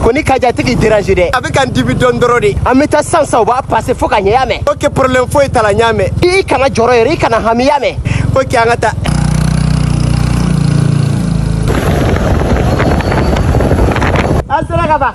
ko ni kaja tɛ k'i déranger dɛ a bɛ ka n dimi dɔɔni dɔrɔn de an bɛ taa sisan sisan o b'a passer fo ka ɲɛ y'a mɛn ok problème foyi t'a la n y'a mɛn i kana jɔrɔ yɛrɛ i kana hami y'a mɛn ok an ka taa an sera ka ban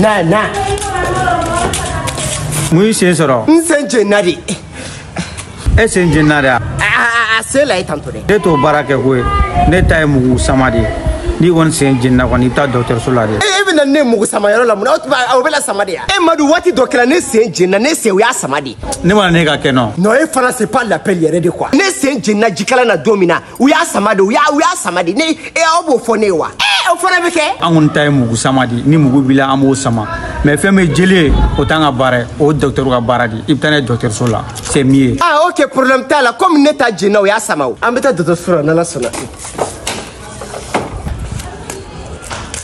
na na mun y'i sen sɔrɔ n sen jenna de e sen jenna de wa a se la ye tantɔ dɛ ne t'o baara kɛ koyi ne ta ye mugu sama de ye n'i kɔni sen jenna kɔni i bɛ taa dɔgɔtɔrɔso la de e bɛ na ne mugu sama yɔrɔ la mun na o bɛ la sama de ya e madu waati dɔ kɛra ne sen jenna ne sen u y'a sama de ye ne mana ne ka kɛ nɔ non e fana c'est pas la peine yɛrɛ de quoi ne sen jenna jikalan na don min na u y'a sama de u y'a u y'a sama de ne e aw b'o fɔ ne ye wa ee o fana bɛ kɛ. an kɔni ta ye mugu sama de ni mugu b'i la an b'o sama mais fɛn min ye jeli ye o t'an ka baara ye o dɔgɔtɔrɔ ka baara de ye i bɛ taa n'a ye dɔgɔtɔrɔso la c'est mieux. ah ok problème t'a la komi ne ta jenna u y'a sama o an bɛ taa dɔgɔtɔrɔso la n'ala sɔnna.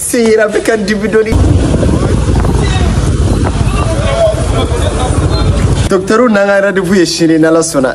sen yɛrɛ bɛ ka dimi dɔɔni docteur n'an ka rendez-vous ye sini n'ala sɔnna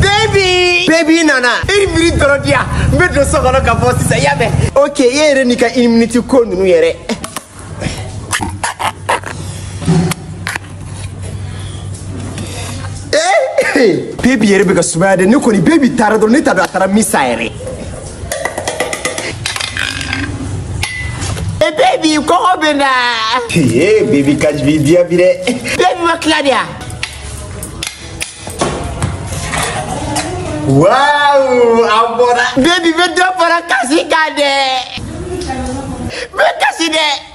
Baby! Baby nana. Une minute dɔrɔn di yan. N bɛ don so kɔnɔ ka bɔ sisan, i y'a mɛn? Ok, e yɛrɛ n'i ka une minute ko ninnu yɛrɛ. Eh! Baby yɛrɛ bɛ ka sumaya dɛ, ne kɔni baby taara dɔrɔn ne t'a dɔn a taara min sa yɛrɛ. Hey baby, kɔngɔ bɛ n na. Hey baby, kaji bi diya bi dɛ. Baby ma tila de wa. Wow, a bɔra. Baby bɛ dɔ fara kasi kan dɛ. Bɛ kasi dɛ.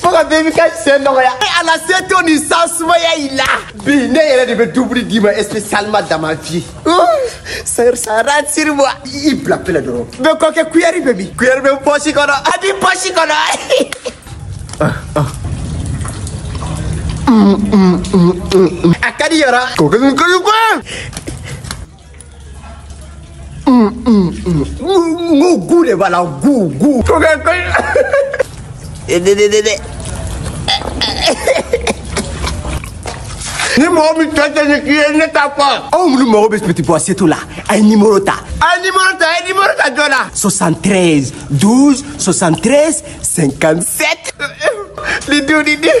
faut que baby ka sen nɔgɔya e ala se to nin san sumaya i la bi ne yɛrɛ de bɛ dumuni d'i ma spécialement damafi sara siri bɔ i bila pele dɔrɔn bɛ kɔ kɛ kuyɛri bɛ min kuyɛri bɛ pɔsi kɔnɔ a b'i pɔsi kɔnɔ a ka di yɔrɔ ko kɛ nin kɔni kɔ Goût de b'a la goût goût. Ni mɔgɔ min tɔ tɛ nin k'i ye ne t'a fɔ. Aw minnu mago bɛ petit pois setu la a ye nimoro ta. A ye nimoro ta a ye nimoro ta joona. 73 12 73 57. Nin don nin den.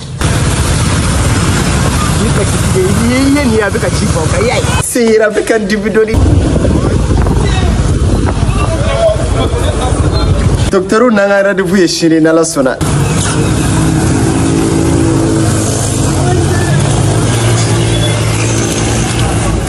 sen yɔrɔ bɛ ka dimi dɔɔni docteur n'an ka rendez-vous ye sini n'ala sɔnna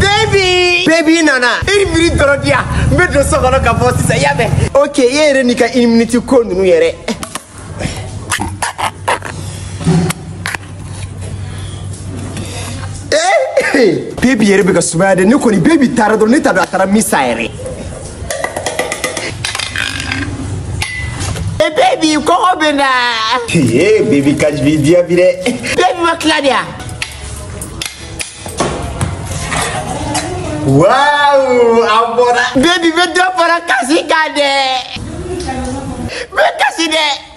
Baby! Baby nana. Une minute dɔrɔn di yan. N bɛ don so kɔnɔ ka bɔ sisan, i y'a mɛn? Ok, e yɛrɛ n'i ka une minute ko ninnu yɛrɛ. Eh! Baby yɛrɛ bɛ ka sumaya dɛ. Ne kɔni baby taara dɔrɔn ne t'a dɔn a taara min sa yɛrɛ. Hey baby, kɔngɔ bɛ n na. Ee baby ka bi diya bi dɛ. Baby ma tila de yan. Waaw a bɔra. Baby bɛ dɔ fara kasi kan dɛ. N bɛ kasi dɛ.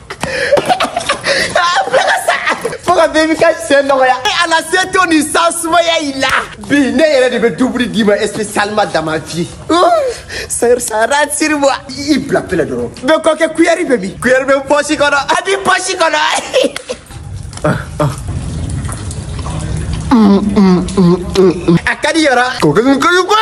fo ka baby ka sen nɔgɔya e ala se to nin sen sumaya i la bi ne yɛrɛ de bɛ dumuni d'i ma spécialement dans ma vie sara siri bɔ i bila pele dɔrɔn bɛ kɔ kɛ kuyɛri bɛ min kuyɛri bɛ n pɔsi kɔnɔ a b'i pɔsi kɔnɔ a ka di yɔrɔ kokɛ kokɛ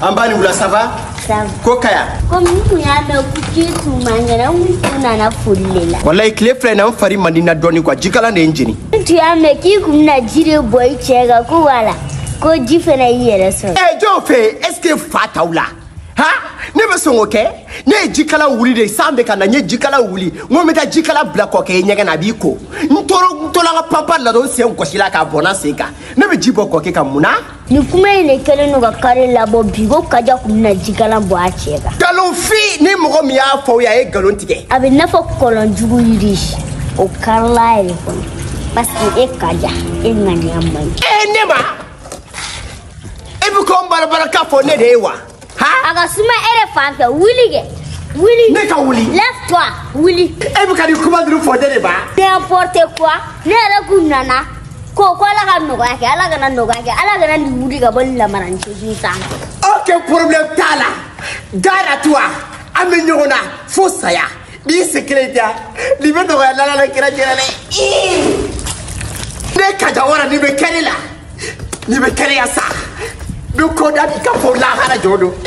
An b'a ni wula ça va? Ça va. Ko kaya? Komi n tun y'a mɛn ko k'i tun man kɛnɛ n tun nana foli de la. Walayi tile fila in na n fari man di n na dɔɔni quoi jikalan de ye n jeni. N tun y'a mɛn k'i kun bɛna ji de bɔn i cɛ kan ko wala ko ji fana y'i yɛrɛ sɔrɔ. Ɛ jɔn fɛ yen est ce que fa t'aw la? Ha? Ne bɛ sɔn k'o kɛ ne ye jikalan wuli de san bɛ ka na n ye jikalan wuli n ko n bɛ taa jikalan bila kɔkɛ ye ɲɛgɛn na a b'i ko n tora n tola n ka panpan la dɔrɔn n sen gɔsila k'a bɔnna n sen kan ne bɛ ji bɔn kɔkɛ kan mun na nin kuma in de kɛlen don ka kare labɔ bi ko kaja kun bɛna jikalan bɔn a cɛ kan nkalonfin ni mɔgɔ min y'a fɔ aw ye a ye nkalon tigɛ a bɛ n'a fɔ kɔlɔn jugu yiri o karila a yɛrɛ kɔnɔ paseke e kaja e ŋaniya man ɲi e ne ma e bɛ ko n barabara k'a fɔ ne de ye wa a ka suma e de fan fɛ wuli kɛ wuli ne ka wuli lève toi wuli e bɛ ka nin kuma ninnu fɔ ne de ma n'importe quoi ne yɛrɛ kun nana ko ko ala ka nɔgɔya kɛ ala kana nɔgɔya kɛ ala kana nin wuli ka bɔ nin lamaran cɛju sa aucun problème t'a la gare à toi an bɛ ɲɔgɔn na fo saya N'i sen kelen ja, n'i bɛ nɔgɔya ala n'a kira jɛra dɛ. Ne kaja wara ni bɛ kɛnɛ la, n'i bɛ kɛnɛya sa, ni ko da b'i ka fɔ lahara jɔ don.